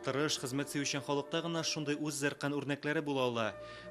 Тырыш, хезмәт сөючән халыкта гына шундый үз зәркән үрнәкләре була ала.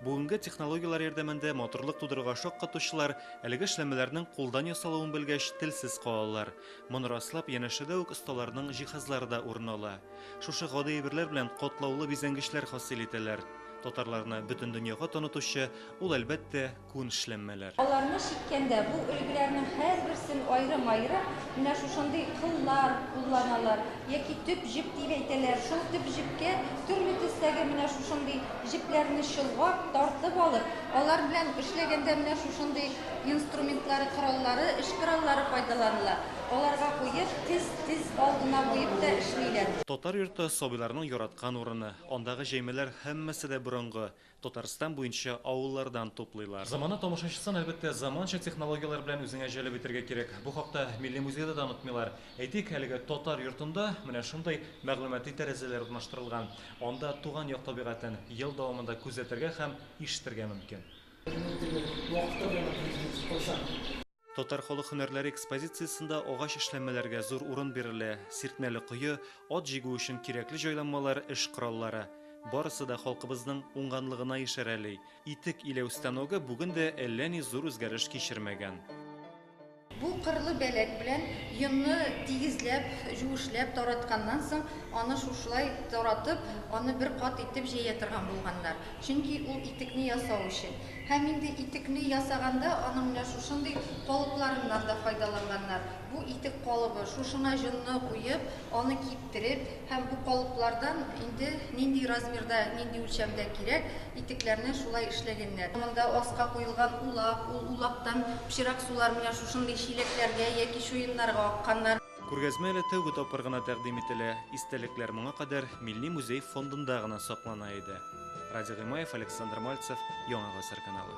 Бүгенге технологияләр ярдәмендә матурлык тудырырга шаккатучылар әлеге эшләмәләрнең кулдан ясалуын белгәч, телсез калалар. Моны раслап, янәшәдә үк осталарның җиһазлары да урын ала. Шушы гади әйберләр белән катлаулы бизәнгечләр хасил итәләр. Татарларны бөтен дөньяга танытучы ул, әлбәттә, күн эшләнмәләр. Аларны чиккәндә, бу өлгеләрнең һәрберсен аерым-аерым менә шушындый кыллар кулланалар, яки төп җеп дип әйтәләр. Шул төп җепкә төрле төстәге менә шушындый җепләрне чолгап, тартып алып, алар белән эшләгәндә менә шушындый инструментлары, кораллары, эш кораллары файдаланыла. Аларга куеп, тез, тез алдына куеп та эшлиләр. Татар йорты сабыйларның яраткан урыны. Андагы җәймәләр һәммәсе дә борынгы, Татарстан буенча авыллардан туплыйлар. Замана тамашачысын, әлбәттә, заманча технологияләр белән үзеңә җәлеп итәргә кирәк. Бу хакта Милли музейда да онытмыйлар. Әйтик, әлеге Татар йортында менә шундый мәгълүмати тәрәзәләр урнаштырылган. Анда туган як табигатен ел дәвамында күзәтергә һәм ишетергә мөмкин. Безнең теле вакыты белән акрын килешә. Кайчан? Татар халык һөнәрләре экспозициясендә агач эшләнмәләргә зур урын бирелә, сиртмәле кое, ат җигү өчен кирәкле җайланмалар, эш кораллары. Барысы да халкыбызның уңганлыгына ишарәли. Итек иләү станогы бүген дә әллә ни зур үзгәреш кичермәгән. Бу кырлы бәләк белән йонны тигезләп, җуешләп таратканнан соң, аны шушылай таратып, аны бер кат итеп җәя торган булганнар. Чөнки ул итекне ясау өчен. Һәм инде итекне ясаганда аның менә шушындый калыпларыннан да файдаланганнар. Бу итек калыбы, шушыңа җонны куеп, аны киптереп һәм бу калыплардан инде нинди размерда, нинди үлчәмдә кирәк, итекләрне шулай эшләгәннәр. Монда аска куелган улак, ул улактан пычрак сулар менә шушындый чиләкләргә яки чуеннарга акканнар. Күргәзмә әле тәүге тапкыр гына тәкъдим ителә, истәлекләр моңа кадәр Милли музей фондында гына саклана иде. Радий Гыймаев, Александр Мальцев, Яңа гасыр каналы.